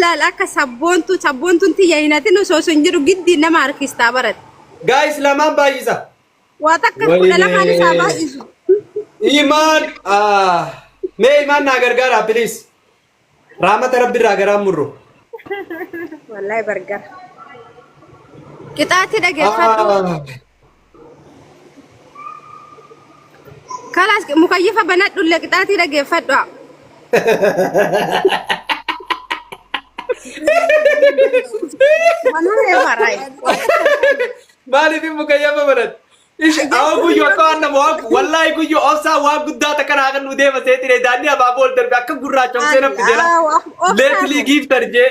Laal akka sabboontuu sabboontuun tiyya hin hatin osoo sun jiru giddiin nama harkistaa barate. Guys lamaan baay'isa. Waa takka kudha lamaan isaa Wayinee. baay'isu. Imaan ah, mee imaan naa gargaaraa please. Raamata rabbi irraa garaan murru. Wallaahi bargara. Qixaatti dhageeffadhu. Ah, Kalaas mukayyifa banadhulle qixaatii dhageeffadhu. Manaa eefaraayi. Maaliif immoo kayyama baratti? Ishi awwa guyyoo akka waan nama waaku wallaahi guyyoo obsaa waan guddaa takka naa kan nu deema seetire daandii abaa bool darbe akka gurraacha obsee nafti jela. Leetlii giiftar jee.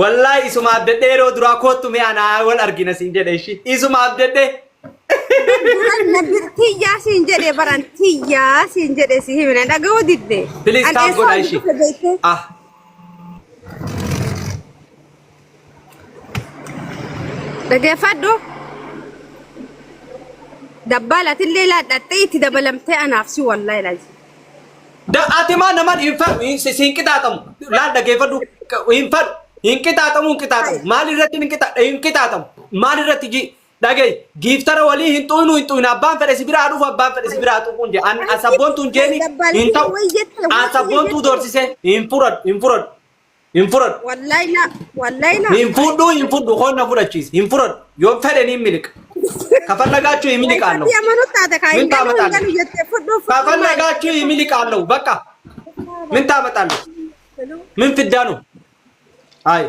Wallahi isuma abdadhe yeroo duraa koottu mee anaa wal argina siin jedhe ishi isuma abdadhe Tiyyaa siin jedhe baran tiyyaa siin jedhe si himina dhaga'uu didde. Please taaf godha ishi ah Dhageeffadhu. Dabbaa latillee laadhattee itti dabalamtee anaaf si wallahi laati. Da- Ati maa naman hin fedhu hin si- si hin qixaaxamu laal dhageeffadhu hin fedhu hin qixaaxamu hin qixaaxamu maal irratti hin qixaaxamu hin qixaaxamu maal irratti ji dhagee giiftara walii hin xu'inu hin xu'inu abbaan fedhe si biraa dhufu abbaan fedhe si biraa xuquun jee an asabboontuun jeeni hin ta'u asabboontuu doorsisee hin furadhu hin furadhu Hin fudhadhu. Wallahi na wallahi na. Hin fudhu hin fudhu koon na fudhachiisi. Hin fudhadhu. Yoo fedhe niin miliqa. Kafallagaachuu hin miliqaan Wallahi ati amanuu taate kaa Min hin galuu hin taamataan. galuu jettee fudhuu fudhuu maali? Kafallagaachuu hin miliqaan lahu. Bakka. Min taamataan. Min fiddaanu. Hayi.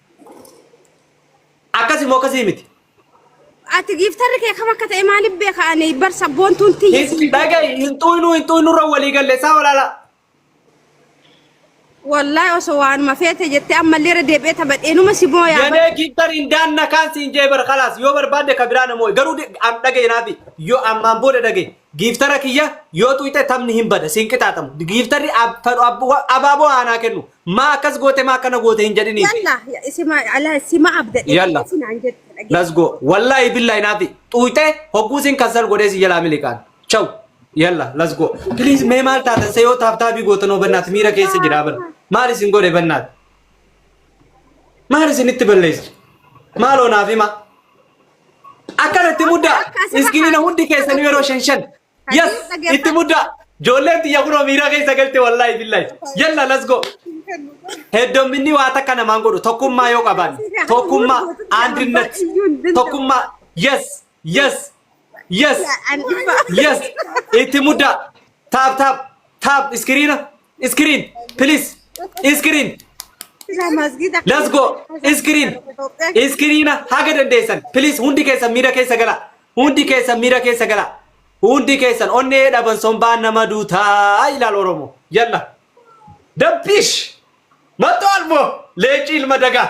Akkasii moo akkasii miti? Ati giiftarri kee kam akka ta'e maaliif beeka ani bar sabboontuun tiyya Hin siin dhaga'i hin xuynuu hin xuynuu irra walii galle isaa walaala. wallahi osoo waanuma feete jettee ammallee irra deebi'ee taphadheenuma si booyaa bar Yadee giiftar hin daanna kaan siin jee bar kalaas yoo barbaadde ka biraa namoo garuu de- am dhaga'i naafi yoo ammaan booda dhaga'i giiftara kiyya yoo xuyxe taphni hin bada siin qixaaxamu giiftarri ab- fedhu ab- wa- abaaboo haanaa kennu Maa akkas goote maa akkana goote hin jedhiniif. Yalla isima ala sima abda Yalla. dhaggeessi naan jette dhaggeessi. Let's go. Wallahi billahi naafi xuuyte hogguusin kansal godhee si jalaa miliqaan. Chaw. Yalla let's go. Please mee maal taatan se yoo taabtaabii gootan hoo bannaati miira keessa jiraa bara. Maal isin godhe bannaati? Maal isinitti balleessi? Maaloo naaf hima. Akkanatti muddaa. Akka asirra Iskiniina hundi keessanii yeroo shan shan. Yes, itti muddaa. Joolleen tiyya kunoo miira keessa galte wallaahi billahi. Yalla let's go. Heddomminni waa takka namaan godhu tokkummaa yoo qaban tokkummaa andinnat tokkummaa yes yes yes yes itti muddaa taap taap taap iskiriina Screen, please. Screen. Let's go. Screen. Screen haga dandeessan. Please hundi keessan miira keessa gala. Hundi keessan miira keessa gala. Hundi keessan onnee dhaban sombaa nama duutaa ilaal Oromoo. Yalla. Dabbish. Matto Almoo. Leenci ilma dagaa.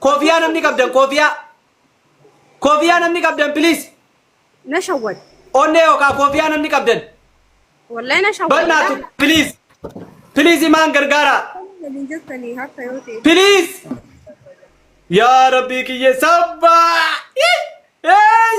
Kofiyaa namni qabdan kofiyaa. Kofiyaa namni qabdan please. Na shawwad. Onnee yookaan kofiyaa namni qabdan. Wallahi na shawwad. Bannaatu please. Please imaan gargaara. Waliin jettanii harka yoo ta'e. Please. Yaa rabbii kiyya sabbaa. Hey!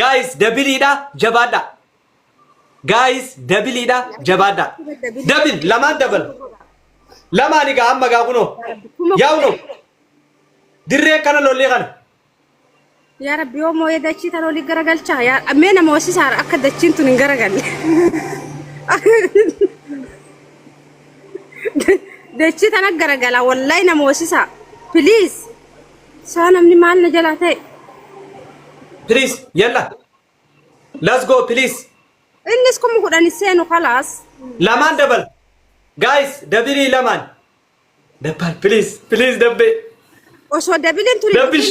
Guys dabiliidha jabaadha. Guys dabiliidha jabaadha. Dabil lamaan dabal. Lamaan egaa amma egaa kunoo. Yaa kunoo. Dirree kana lollee kana. Yaa rabbi yoo mooyee dachii tan olii garagalchaa yaa mee nama hosisaara akka dachiin tun hin garagalle. Dachii tana garagala wallahi nama hosisaa. Please. Saa namni maal na jalaa ta'e. Please yalla. Let's go please. Innis kuma kudhan hin seenu kalaas. Lamaan dabal. Guys dabirii lamaan. Dabbal please please dabbee. Osoo dabiliin turi. Dabbish.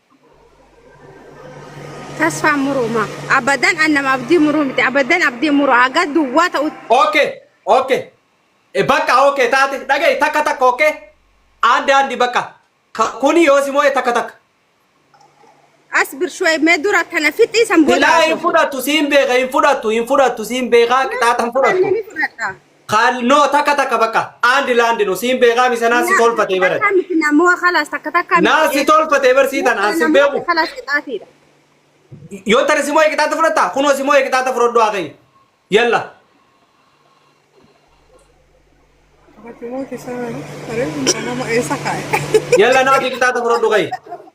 Tasfaa muruuma. Abadan an nama abdii muruu miti. Abadan abdii muru haga duwwaa ta'utti. Okay, okay. E bakka okay taate dhaga'i takka takka okay. Aadde Aaddi bakka ka- kuni yoo si moo'e takka takka. As birshuwee mee dura kana fixii san booda Silaa hin haasofna. fudhattu siin beeka hin fudhattu hin fudhattu siin beekaa qixaaxa hin fudhattu. Ni fudhadha. Kaal no takka takka bakka and land no siin beekaa misa naan si tolfatee bara. Takkaa miti namoo kalaas takka takkaa miti. Naan si tolfatee bar sii tana aan si beeku. Kalaas qixaatiidha. Yoo tana simoo eeqixaata fudhatta kunoo simoo eeqixaata fudhadhu haa kayya. Yalla. Yalla naaf eeqixaata fudhadhu kayya.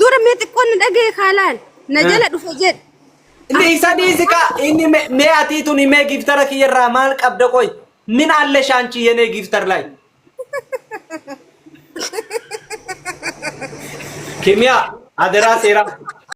Dura mee xiqqoon na dhaga'e kaalaan na Eh. jala dhufe jedhe. Inni isa dhiisi kaa inni me- mee atii tuni mee giftara kiyya irraa maal qabda qoy min alle shaanchi yenee giftar lay kimiyaa aderaa seeraa